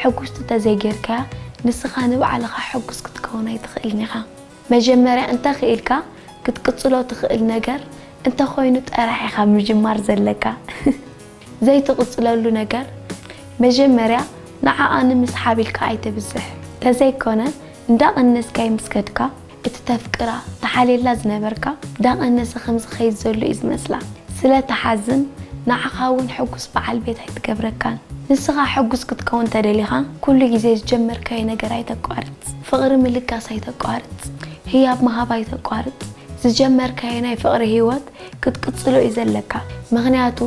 ሕጉስቲ እንተዘይጌርካያ ንስኻ ንባዕልኻ ሕጉስ ክትከውን ኣይትኽእልን ኢኻ። መጀመርያ እንተኽኢልካ ክትቅጽሎ ትኽእል ነገር እንተኾይኑ ጥራሕ ኢኻ ምጅማር ዘለካ። ዘይትቕጽለሉ ነገር መጀመርያ ንዓኣ ንምስሓብ ኢልካ ኣይተብዝሕ። ተዘይኮነ እንዳቐነስካይ ምስ ከድካ እቲ ተፍቅራ፣ ትሓልየላ ዝነበርካ ደቐ ነዚ ከም ዝኸይድ ዘሎ እዩ ዝመስላ። ስለ ትሓዝን ንዓኻ እውን ሕጉስ በዓል ቤት ኣይትገብረካን። ንስኻ ሕጉስ ክትከውን ተደሊኻ ኩሉ ግዜ ዝጀመርካዮ ነገር ኣይተቋርጽ። ፍቕሪ ምልጋስ ኣይተቋርጽ። ህያብ ምሃብ ኣይተቋርጽ። ዝጀመርካዮ ናይ ፍቕሪ ህይወት ክትቅጽሎ እዩ ዘለካ። ምኽንያቱ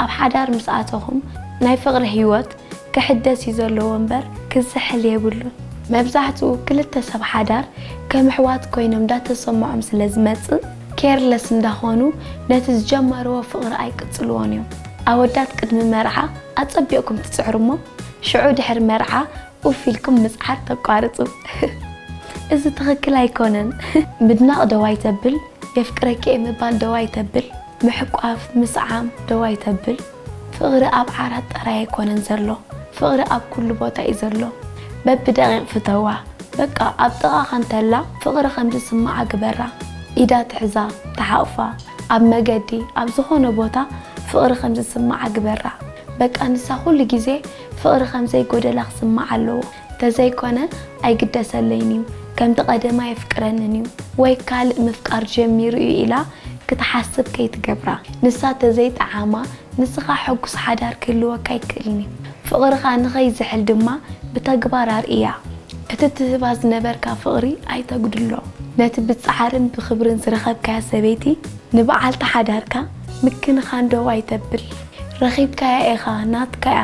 ኣብ ሓዳር ምስ ኣተኹም ናይ ፍቕሪ ህይወት ክሕደስ እዩ ዘለዎ እምበር ክዝሕል የብሉን። መብዛሕትኡ ክልተ ሰብ ሓዳር ከም ኣሕዋት ኮይኖም እንዳተሰምዖም ስለ ዝመጽእ ኬርለስ እንዳኾኑ ነቲ ዝጀመርዎ ፍቕሪ ኣይቅጽልዎን እዮም። ኣወዳት ቅድሚ መርዓ ኣጸቢቕኩም ትጽዕሩ እሞ ሽዑ ድሕሪ መርዓ ኡፍ ኢልኩም ምጽዓር ተቋርጹ። እዚ ትኽክል ኣይኮነን። ምድናቕ ደው ኣይተብል፣ የፍቅረኪ'የ ምባል ደው ኣይተብል፣ ምሕቋፍ፣ ምስዓም ደው ኣይተብል። ፍቕሪ ኣብ ዓራት ጥራይ ኣይኮነን ዘሎ ፍቕሪ ኣብ ኩሉ ቦታ እዩ ዘሎ በቢ ደቒቕ ፍተዋ በቃ ኣብ ጥቓኻ እንተላ ፍቕሪ ከም ዝስምዓ ግበራ ኢዳ ትሕዛ ትሓቑፋ ኣብ መገዲ ኣብ ዝኾነ ቦታ ፍቕሪ ከም ዝስምዓ ግበራ በቃ ንሳ ኩሉ ግዜ ፍቕሪ ከም ዘይጎደላ ክስምዓ ኣለዎ። ተዘይኮነ ኣይግደሰለይን እዩ፣ ከምቲ ቀደም ኣየፍቅረንን እዩ ወይ ካልእ ምፍቃር ጀሚሩ እዩ ኢላ ክትሓስብ ከይትገብራ። ንሳ ተዘይጠዓማ ንስኻ ሕጉስ ሓዳር ክህልወካ ኣይክእልን እዩ። ፍቕርኻ ንኸይዝሕል ድማ ብተግባር ኣርእያ። እቲ ትህባ ዝነበርካ ፍቕሪ ኣይተጉድሎ። ነቲ ብጻዕርን ብኽብርን ዝረኸብካያ ሰበይቲ ንበዓልቲ ሓዳርካ ምክንኻን ደው ኣይተብል። ረኺብካያ ኢኻ፣ ናትካ እያ።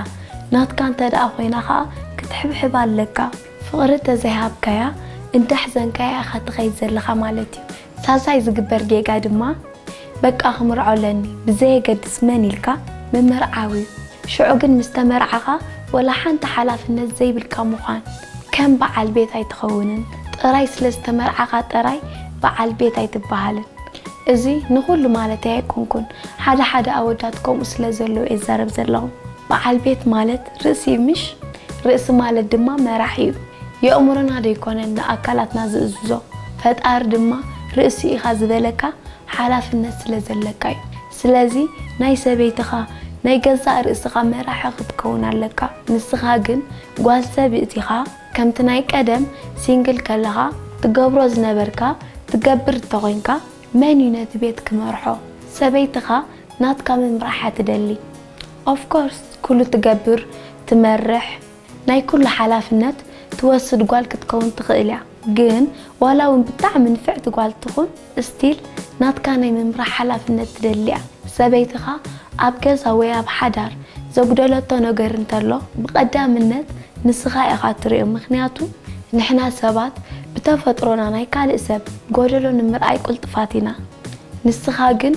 ናትካ እንተ ደኣ ኮይና ከኣ ክትሕብሕብ ኣለካ ፍቅሪ እንተ ዘይሃብካያ እንዳሕዘንካያ ኢካ ትከይድ ዘለካ ማለት እዩ ሳልሳይ ዝግበር ጌጋ ድማ በቃ ክምርዖ ኣለኒ ብዘየገድስ መን ኢልካ ምምርዓው እዩ ሽዑ ግን ምስ ተመርዓካ ወላ ሓንቲ ሓላፍነት ዘይብልካ ምኳን ከም በዓል ቤት ኣይትከውንን ጥራይ ስለ ዝተመርዓካ ጥራይ በዓል ቤት ኣይትበሃልን እዚ ንኩሉ ማለተይ ኣይኮንኩን ሓደ ሓደ ኣወዳት ከምኡ ስለ ዘለዉ እየ ዝዛረብ ዘለኹ። በዓል ቤት ማለት ርእሲ እዩ ምሽ? ርእሲ ማለት ድማ መራሒ እዩ። የእምሮና ዶ ኣይኮነን ንኣካላትና ዝእዝዞ? ፈጣሪ ድማ ርእሲ ኢኻ ዝበለካ ሓላፍነት ስለ ዘለካ እዩ። ስለዚ ናይ ሰበይትኻ፣ ናይ ገዛእ ርእስኻ መራሒ ክትከውን ኣለካ። ንስኻ ግን ጓል ሰብእት ኢኻ፣ ከምቲ ናይ ቀደም ሲንግል ከለኻ ትገብሮ ዝነበርካ ትገብር እንተኾይንካ፣ መን እዩ ነቲ ቤት ክመርሖ ሰበይትኻ ናትካ ምምራሓ ትደሊ of course ኩሉ ትገብር ትመርሕ ናይ ኩሉ ሓላፍነት ትወስድ ጓል ክትከውን ትኽእል እያ ግን ዋላ ውን ብጣዕሚ ንፍዕቲ ጓል ትኹን still ናትካ ናይ ምምራሕ ሓላፍነት ትደሊ እያ ሰበይትኻ ኣብ ገዛ ወይ ኣብ ሓዳር ዘጉደለቶ ነገር እንተሎ ብቀዳምነት ንስኻ ኢኻ እትርእዮ ምኽንያቱ ንሕና ሰባት ብተፈጥሮና ናይ ካልእ ሰብ ጎደሎ ንምርኣይ ቁልጥፋት ኢና ንስኻ ግን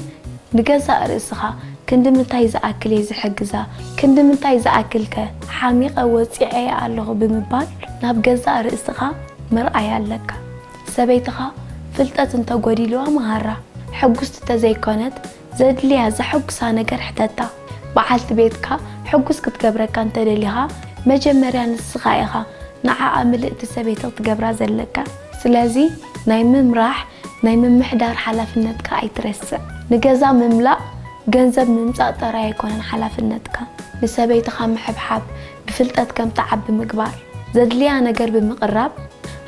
ንገዛእ ርእስኻ ክንድምንታይ ዝኣክል እየ ዝሕግዛ ክንድምንታይ ዝኣክል ከ ሓሚቐ ወጺዔያ ኣለኹ ብምባል ናብ ገዛእ ርእስኻ ምርኣይ ኣለካ ሰበይትኻ ፍልጠት እንተጎዲልዋ ምሃራ ሕጉስቲ ተዘይኮነት ዘድልያ ዘሐጉሳ ነገር ሕተታ። በዓልቲ ቤትካ ሕጉስ ክትገብረካ እንተ ደሊኻ፣ መጀመርያ ንስኻ ኢኻ ንዓኣ ምልእቲ ሰበይቲ ክትገብራ ዘለካ። ስለዚ ናይ ምምራሕ ናይ ምምሕዳር ሓላፍነትካ ኣይትረስዕ። ንገዛ ምምላእ ገንዘብ ምምጻእ ጥራይ ኣይኮነን ሓላፍነትካ፣ ንሰበይትኻ ምሕብሓብ፣ ብፍልጠት ከም ትዓቢ ምግባር፣ ዘድልያ ነገር ብምቕራብ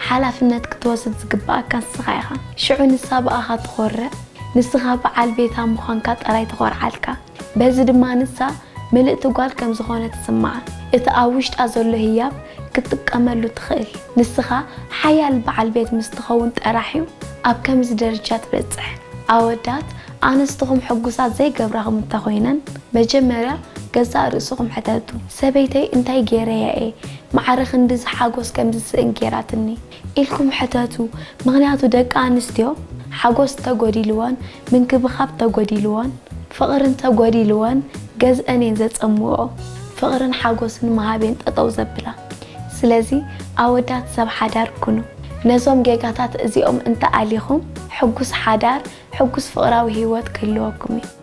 ሓላፍነት ክትወስድ ዝግብኣካ ንስኻ ኢኻ። ሽዑ ንሳ ብኣኻ ትኾርዕ፣ ንስኻ ብዓል ቤታ ምዃንካ ጥራይ ትኾርዓልካ። በዚ ድማ ንሳ ምልእቲ ጓል ከም ዝኾነት ይስምዓ። እቲ ኣብ ውሽጣ ዘሎ ህያብ ክትጥቀመሉ ትኽእል። ንስኻ ሓያል ብዓል ቤት ምስ ትኸውን ጥራሕ'ዩ ኣብ ከምዚ ደረጃ ትበጽሕ። ኣወዳት ኣንስትኹም ሕጉሳት ዘይገብራ ኹም እንተኾይነን መጀመርያ ገዛእ ርእስኹም ሕተቱ ሰበይተይ እንታይ ጌረያ እየ ማዕረ ክንድዚ ሓጎስ ከም ዝስእን ጌራትኒ ኢልኩም ሕተቱ ምኽንያቱ ደቂ ኣንስትዮ ሓጎስ እንተጎዲልወን ምንክብኻብ እንተጎዲልወን ፍቕሪ እንተጎዲልወን ገዝእን እየን ዘጸምወኦ ፍቕርን ሓጎስን ምሃብ እየን ጠጠው ዘብላ ስለዚ ኣወዳት ሰብ ሓዳር ኩኑ። ነዞም ጌጋታት እዚኦም እንተ ኣሊኹም ሕጉስ ሓዳር፣ ሕጉስ ፍቕራዊ ህይወት ክህልወኩም እዩ።